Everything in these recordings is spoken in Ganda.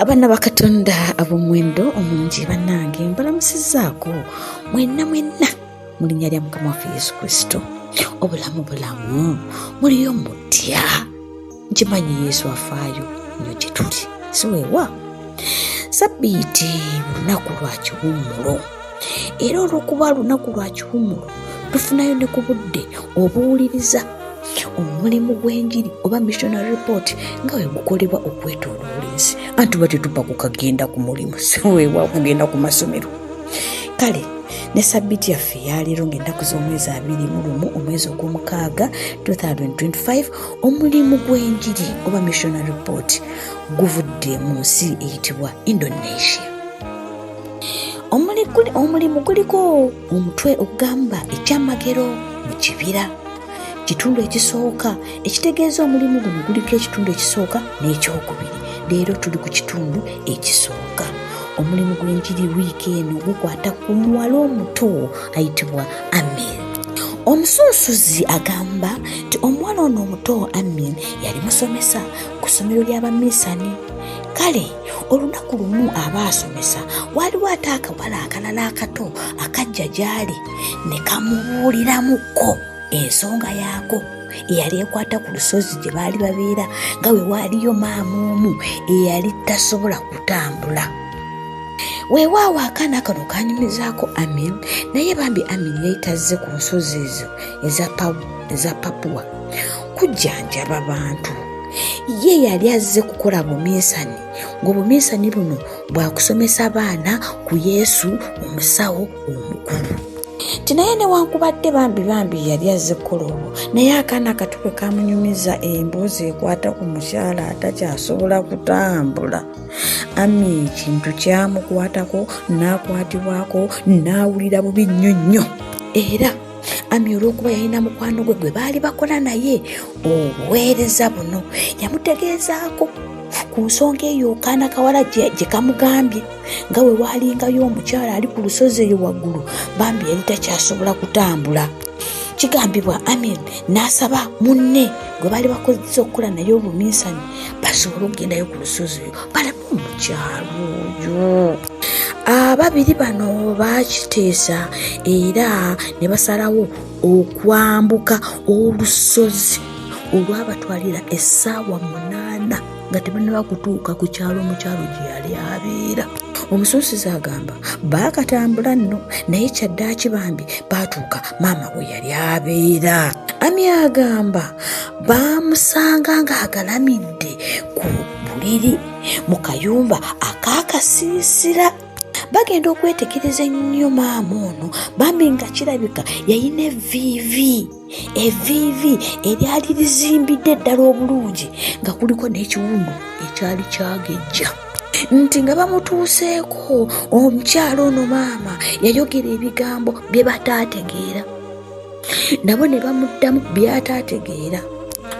abaana bakatonda ab'omuwendo omungi bannange mbalamusizaako mwenna mwenna mu linnya lya mukama waffe yesu kristo obulamu bulamu muliyo mutya nkimanyi yesu afaayo nyo gyetuli siwewa sabbiiti lunaku lwa kiwummulo era olwokuba lunaku lwa kiwummulo tufunayo ne ku budde obuwuliriza omulimu gw'enjiri oba missionary report nga we gukolebwa okwetoloola ensi anti ba tetupa kukagenda ku mulimu siwewa kugenda ku masomero kale ne sabbiti yaffe yaleero ng'ennaku z'omwezi abiri mu lumu omwezi ogw'omukaaga 2025 omulimu gw'enjiri oba missiona report guvudde mu nsi eyitibwa indonesia omulimu guliko omutwe ogugamba ekyamagero mu kibira kitundu ekisooka ekitegeeza omulimu guno guliko ekitundu ekisooka n'ekyokubiri leero tuli ku kitundu ekisooka omulimu gw'enjiri wiiki eno gukwata ku muwala omuto ayitibwa amen omusunsuzi agamba nti omuwala ono omuto amin yali musomesa ku ssomero ly'abaminsani kale olunaku lumu aba asomesa waaliwo ate akawala akalala akato akajja gy'ali ne kamubuuliramukko ensonga yaako eyali ekwata ku lusozi gye baali babeera nga we waaliyo maama omu eyali tasobola kutambula weewaawo akaana kano kanyumizaako amin naye bambi amin yayitazze ku nsozi ezo eza papuwa kujjanjaba bantu ye yali azze kukola buminsani ng'obuminsani buno bwakusomesa baana ku yesu omusawo omukulu nti naye newankubadde bambi bambi yali azze kukola olwo naye akaana katuke kamunyumiza emboozi ekwata ku mukyala atakyasobola kutambula ami ekintu kyamukwatako n'akwatibwako n'awulira bubi nnyo nnyo era ami olw'okuba yalina mukwano gwe gwe baali bakola naye obuweereza buno yamutegeezaako ku nsonga eyo okaana kawala gye kamugambye nga we waalingayo omukyala ali ku lusozi eyo waggulu bambi yali takyasobola kutambula kigambibwa amin n'asaba munne gwe baali bakozesa okukola naye obuminsani basobole okugendayo ku lusozi oyo balamu omukyalo oyo ababiri bano bakiteesa era ne basalawo okwambuka olusozi olwabatwalira essaawa munaana nga tebannaba kutuuka ku kyalo omukyalo gye yali abeera omusuusizi agamba baakatambula nno naye kyaddaaki bambi baatuuka maama we yali abeera ami agamba baamusanga ng'agalamidde ku buliri mu kayumba akaakasiisira bagenda okwetegereza ennyo maama ono bambi nga kirabika yayina eviivi eviivi eryali lizimbidde ddala obulungi nga kuliko n'ekiwundu ekyali kyagejja nti nga bamutuuseeko omukyalo ono maama yayogera ebigambo bye bataategeera nabo ne bamuddamu by'ataategeera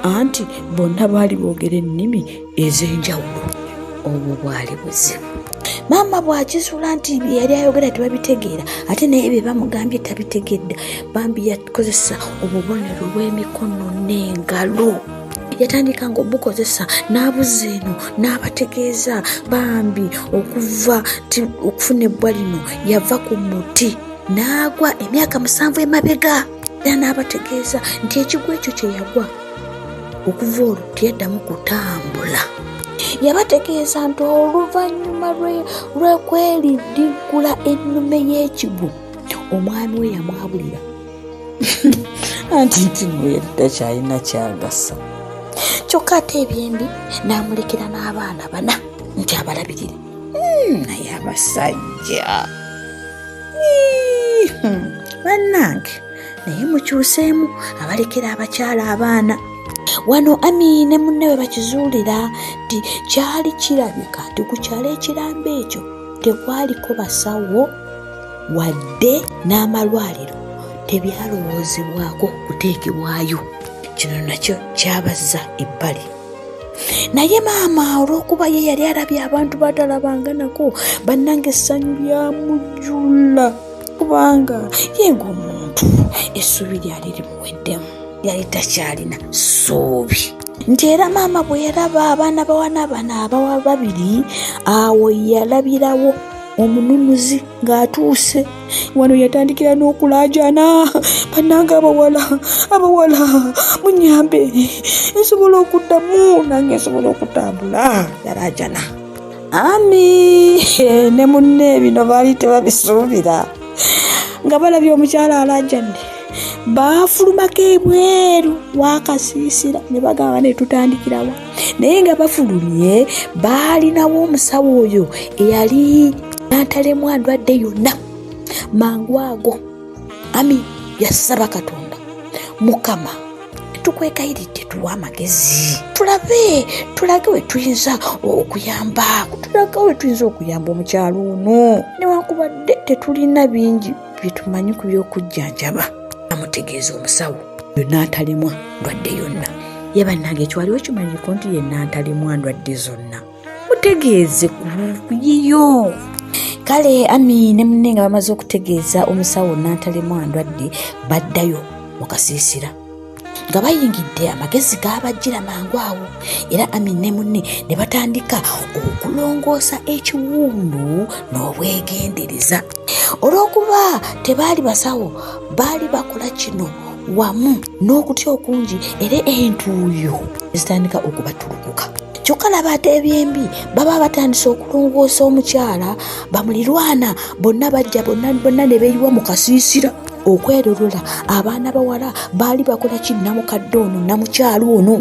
anti bonna baali boogera ennimi ez'enjawulo obwo bwali buzibu maama bw'akizuula nti bye yali ayogera tebabitegeera ate naye bye bamugambye tabitegedde bambi yakozesa obubonero bw'emikono n'engalo yatandika nga obukozesa n'abuza eno n'abategeeza bambi okuva okufuna ebbwa lino yava ku muti n'agwa emyaka musanvu emabega era n'abategeeza nti ekigwa ekyo kye yagwa okuva olwo teyaddamu kutambula yabategeeza nti oluvannyuma lwekweriddiggula ennume y'ekigwo omwami we yamwabulira anti nti noyadda kyalina kyagasa kyokka ate ebyembi n'amulekera n'abaana bana nti abalabirire hmm, naye abasajja hmm, bannange naye mukyuseemu abalekera abakyala abaana wano ami ne munne we bakizuulira nti kyali kirabika nti ku kyalo ekiramba ekyo tekwaliko basawo wadde n'amalwaliro tebyalowoozebwako kuteekebwayo kino nakyo kyabazza ebbali naye maama olw'okuba ye yali alabye abantu batalabanga nako bannanga essanyu lyamujula kubanga ye ng'omuntu essuubi lyali limuweddemu yali takyalina ssuubi nti era maama bwe yalaba abaana bawana bana abawa babiri awo yalabirawo omununuzi ng'atuuse wano yatandikira n'okulaajana bannanga abawala abawala munyambe nsobola okuddamu nange nsobola okutambula yalaajana ani ne munne bino baali tebabisuubira nga balabye omukyala alajjadde baafulumako ebweru wakasiisira ne bagamba ne tutandikirawa naye nga bafulumye baalinawo omusawo oyo eyali nantalemu adwadde yonna mangu ago ami yasaba katonda mukama tukwegayiridde tuwa amagezi tulabe tulage we tuyinza okuyamba tulage we tuyinza okuyamba omukyalo ono newankubadde tetulina bingi byetumanyi ku by'okujjanjaba amutegeeza omusawo yonna atalemwa ndwadde yonna ye bannange ekiwaliwo kimanyiko nti yenna ntalemwa ndwadde zonna mutegeeze ku yiyo kale ami ne munne nga bamaze okutegeeza omusawo nantalemu andwadde baddayo mu kasiisira nga bayingidde amagezi gaabajjira mangu awo era ami ne munne ne batandika okulongoosa ekiwundu n'obwegendereza olw'okuba tebaali basawo baali bakola kino wamu n'okutya okungi era entuuyo ezitandika okubatulukuka kyokka laba ate ebyembi baba batandise okulongoosa omukyala bamulirwana bonna bajja bonna bonna ne beyiwa mu kasiisira okwerolola abaana bawala baali bakola ki namukadde ono namukyalo ono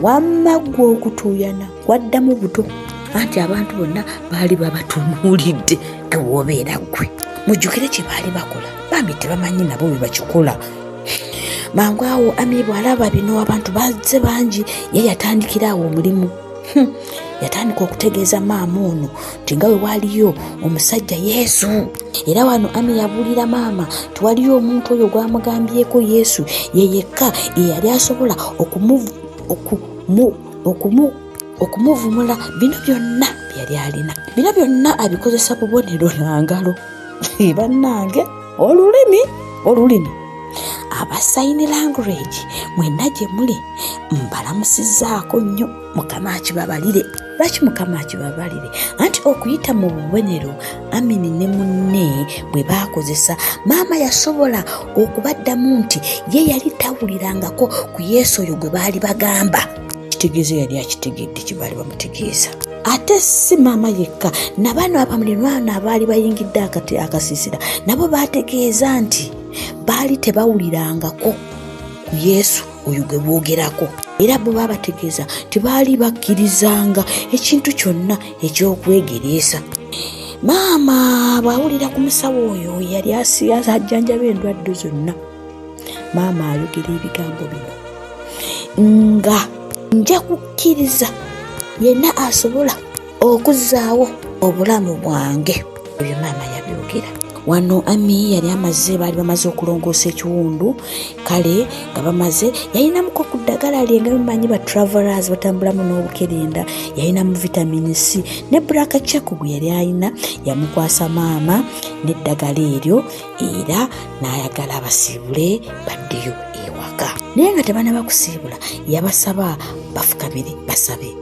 wamma ggwe okutuuyana waddamu buto anti abantu bonna baali babatunuulidde gewoobeera ggwe mujjukire kye baali bakola bambi tebamanyi nabo bwe bakikola mangu awo amiibu alaba bino abantu bazze bangi ye yatandikira awo omulimu hmm. yatandika okutegeeza maama ono nti nga we waaliyo omusajja yesu era wano ami yabuulira maama tiwaliyo omuntu oyo gwamugambyeko yesu ye yekka eyali asobola okumuvu okumu okumuvumula bino byonna byeyali alina bino byonna abikozesa bubonero na ngalo bannange olulimi olulimi aba sign language mwenna gye muli mbalamusizaako nnyo mukama akibabalire lwaki mukama akibabalire anti okuyita mu bubonero amini ne munne bwe baakozesa maama yasobola okubaddamu nti ye yali tawulirangako ku yesu oyo gwe baali bagamba kitegeeza yali akitegedde kye baali bamutegeeza ate si maama yekka nabaana abamulirwana abaali bayingidde akati akasisira nabo baategeeza nti baali tebawulirangako ku yesu oyo gwe boogerako era bwe babategeeza tebaali bakkirizanga ekintu kyonna eky'okwegereesa maama bw'awulira ku musawo oyo yali ajjanjaba endwadde zonna maama ayogera ebigambo bino nga nja kukkiriza yenna asobola okuzaawo obulamu bwange ebyo maama yabyogera wano ami yali amaze baali bamaze okulongoosa ekiwundu kale nga bamaze yalinamuko ku ddagala lye nga bimanyi ba travelers batambulamu n'obukerenda yalinamu vitamin c ne braka chako gwe yali alina yamukwasa maama n'eddagala eryo era n'ayagala abasiibule baddeyo ewaka naye nga tebana bakusiibula yabasaba bafukamire basabe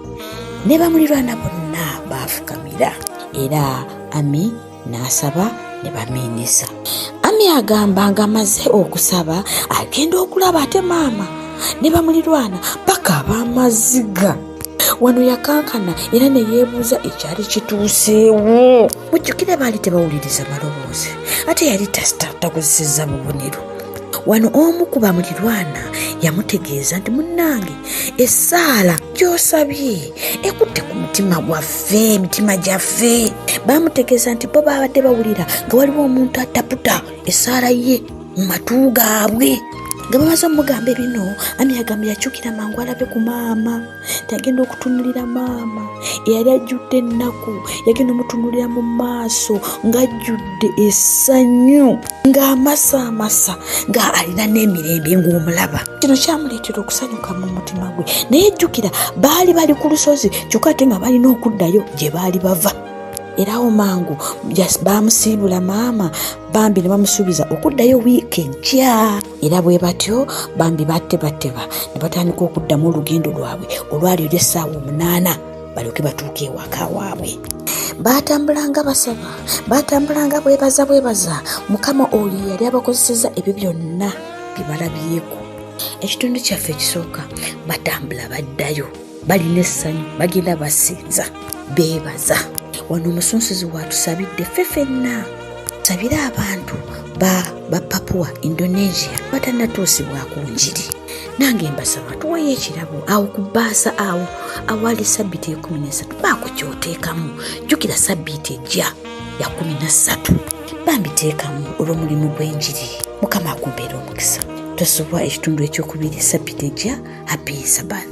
ne bamulirwana bonna baafukamira era ami n'asaba ne bamiinisa ami agamba ng'amaze okusaba agenda okulaba ate maama ne bamulirwana paka ab'amaziga wano yakankana era ne yeebuuza ekyali kituuseewo mujjukire baali tebawuliriza maloboozi ate yali takozesezza bubonero wano omu ku bamulirwana yamutegeeza nti munnange essaala gyosabye ekutte ku mutima gwaffe emitima gyaffe bamutegeeza nti bo baabadde bawulira nga waliwo omuntu ataputa essaala ye mu matu gaabwe nga bamaze omugambe bino ami agambe yakyukira mangu alabe ku maama tagenda okutunulira maama eyali ajjudde ennaku yagenda omutunulira mu maaso ng'ajjudde essanyu ng'amasaamasa nga alina n'emirembe ng'omulaba kino kyamuleetera okusanyuka mu mutima gwe naye jjukira baali bali ku lusozi kyokka ate nga balina okuddayo gye baali bava era awo mangu baamusiibula maama bambi ne bamusuubiza okuddayo wiiki ejja era bwe batyo bambi batebateba ne batandika okuddamu olugendo lwabwe olwali olw'essaawa omunaana balyoke batuuke ewaka waabwe baatambulanga basaba baatambulanga bwebaza bwebaza mukama oyo yali abakozeseza ebyo byonna bye balabyeko ekitundu kyaffe ekisooka batambula baddayo balina essanyu bagenda basinza beebaza wano omusunsuzi waatusabidde ffe fenna sabira abantu ba bapapuwa indonesia batanatuusibwako njiri nange mbasaba tuwayo ekirabo awo ku bbaasa awo awali sabbiiti ekumi nesatu baako kyoteekamu jjukira sabbiiti ejja ya kumi na ssatu bambiteekamu olw'omulimu gw'enjiri mukama akumbeera omukisa tosubwa ekitundu ekyokubiri sabbiiti ejja happy sabbath